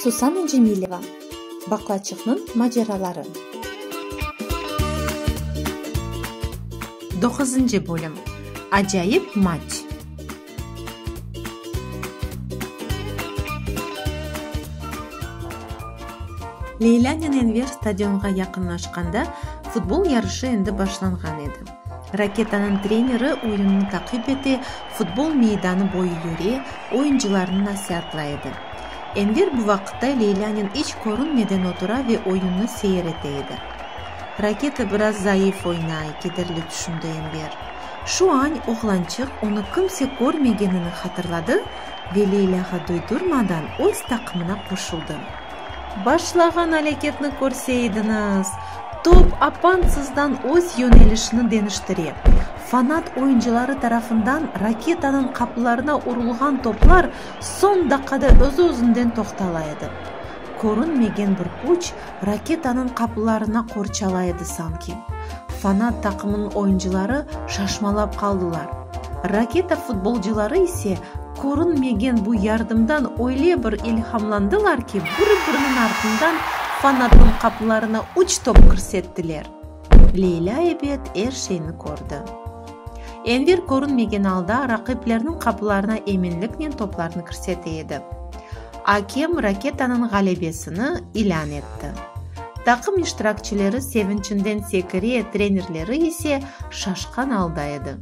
Susana Cemileva, Baqlaçıqnıñ maceraları. Doquzıncı bölüm, Acayip maç. Leylânen Enver stadionğa yaqınlaşqanda, futbol yarışı endi başlanğan edi. Raketanıñ treneri oyunnı taqip ete, futbol meydanı boyu yüre, oyuncılarnı nasiatlay edi. Enver bu vaqıtta Leylânen iç körünmeden otura ve oyunnı seyir ete edi. Raketa biraz zayıf oynay, kederli tüşündi Enver. Şu añ oğlançıq onı kimse körmegenini hatırladı ve Leylâğa duydurmadan öz taqımına qoşuldı. Başlağan alâketni körse ediñiz! Top apansızdan öz yönelişini deñiştire. Fanat oyuncıları tarafından raketanıñ qaplarına urulğan toplar soñ daqada öz-özünden toqtala edi. Körünmegen bir küç raketanıñ qaplarına qorçala edi sanki. Fanat taqımınıñ oyuncıları şaşmalap qaldılar. Raketa futbolcıları ise körünmegen bu yardımdan öyle bir ilhamlandılar ki, biri-biriniñ artından fanatnıñ qapılarına üç top kirsettiler. Leylâ ebet er şeyni kördi. Enver körünmegen alda raqiplerniñ qapılarına eminliknen toplarnı kirsete edi. Akem raketanıñ ğalebesini ilân etti. Taqım iştirakçileri sevinçinden sekire, trenerleri ise şaşqan alda edi.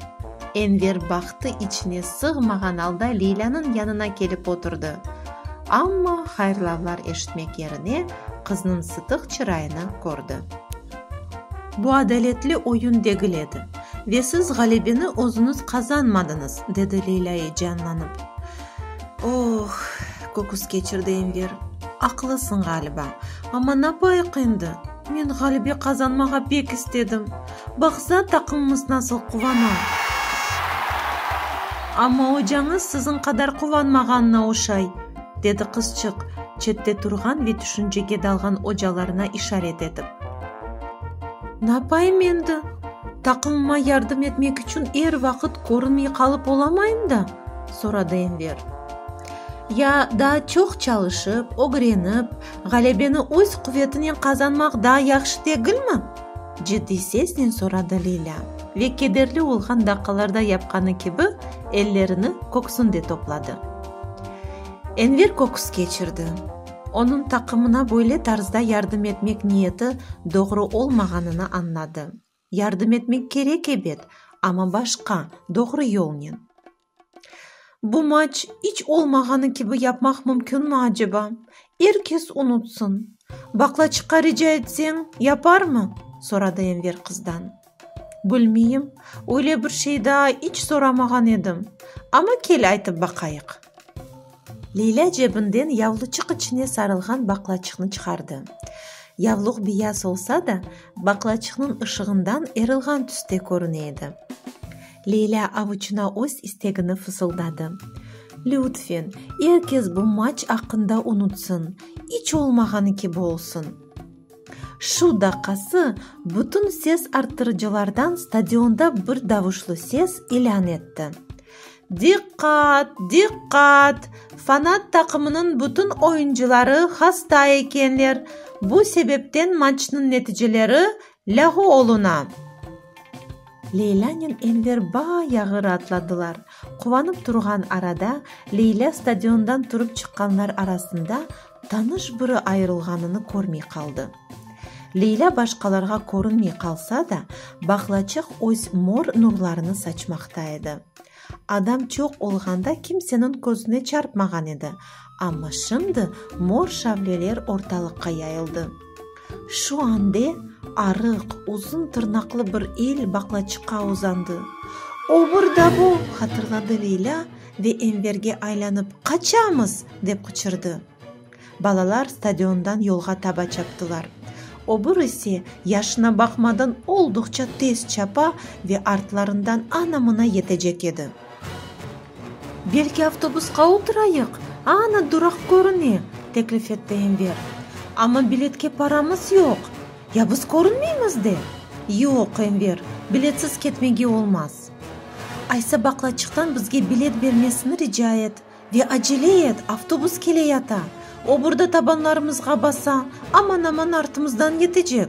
Enver bahtı içine sığmağan alda Leylânıñ yanına kelip oturdı. Amma hayırlavlar eşitmek yerine qıznıñ sıtıq çırayını kördi. Bu adaletli oyun degil edi ve siz ğalebeni özüñiz qazanmadıñız, dedi Leylâ-i canlanıp. Oh! köküs keçirdi Enver. Aqlısıñ ğaliba. Amma napayiq endi? Men ğalebe qazanmağa pek istedim. Baqsa, taqımımız nasıl quvana. Amma ocañız siziñ qadar quvanmağanına oşay, dedi qızçıq, çette turğan ve tüşüncege dalğan ocalarına işaret etip. Napayım endi? Taqımıma yardım etmek içün er vaqıt körünmey qalıp olamayım da. soradı Enver. Ya daa çoq çalışıp, ögrenip, ğalebeni öz quvetinen qazanmaq daa yahşı degilmi? ciddiy sesnen soradı Lilâ ve kederli olğan daqalarda yapqanı kibi ellerini köksünde topladı. Enver köküs keçirdi. Onıñ taqımına böyle tarzda yardım etmek niyeti doğru olmağanını añladı. Yardım etmek kerek, ebet, amma başqa, doğru yolnen. Bu maç iç olmağanı kibi yapmaq mümkünmi aceba? Er kes unutsın. Baklaçıqqa rica etseñ, yaparmı? soradı Enver qızdan. Bilmeyim, öyle bir şey daa iç soramağan edim. Amma kel aytıp baqayıq. Leylâ cebinden yavluçıq içine sarılğan baqlaçıqnı çıqardı. Yavluq biyas olsa da, baqlaçıqnıñ ışığından erilğan tüste körüne edi. Leylâ avuçına öz istegini fısıldadı, Lütfen, er kes bu maç aqqında unutsın, iç olmağanı kibi olsun! Şu daqası bütün ses arttırıcılardan stadionda bir davuşlı ses ilân etti, Diqqat! Diqqat! Fanat taqımınıñ bütün oyuncıları hasta ekenler, bu sebepten maçnıñ neticeleri lâğu oluna. Leylânen Enver bayağı raatladılar. Quvanıp turğan arada Leylâ stadiondan turıp çıqqanlar arasında Tanış biri ayırılğanını körmey qaldı. Leyla başqalarğa körünmey qalsa da, bağlaçıq öz mor nurlarını saçmaqta edi. Adam çoq olğanda kimseniñ közüne çarpmağan edi, amma şimdi mor şavleler ortalıqqa yayıldı. Şu ande arıq, uzun tırnaqlı bir el baqlaçıqqa uzandı. Obur da bu! hatırladı Leylâ ve Enverge aylanıp, Qaçamız! dep qıçırdı. Balalar stadiondan yolğa taba çaptılar. Obur ise, yaşına baqmadan, olduqça tez çapa ve artlarından ana-mına yetecek edi. Belki avtobusqa oturayıq, ana duraq körüne, teklif etti Enver. Amma biletke paramız yoq. Ya biz körünmeymiz de? Yoq, Enver, biletsiz ketmege olmaz. Aysa baqlaçıqtan bizge bilet bermesini rica et ve acele et, avtobus keleyata. O burda tabanlarımızğa basa, aman-aman artımızdan yetecek.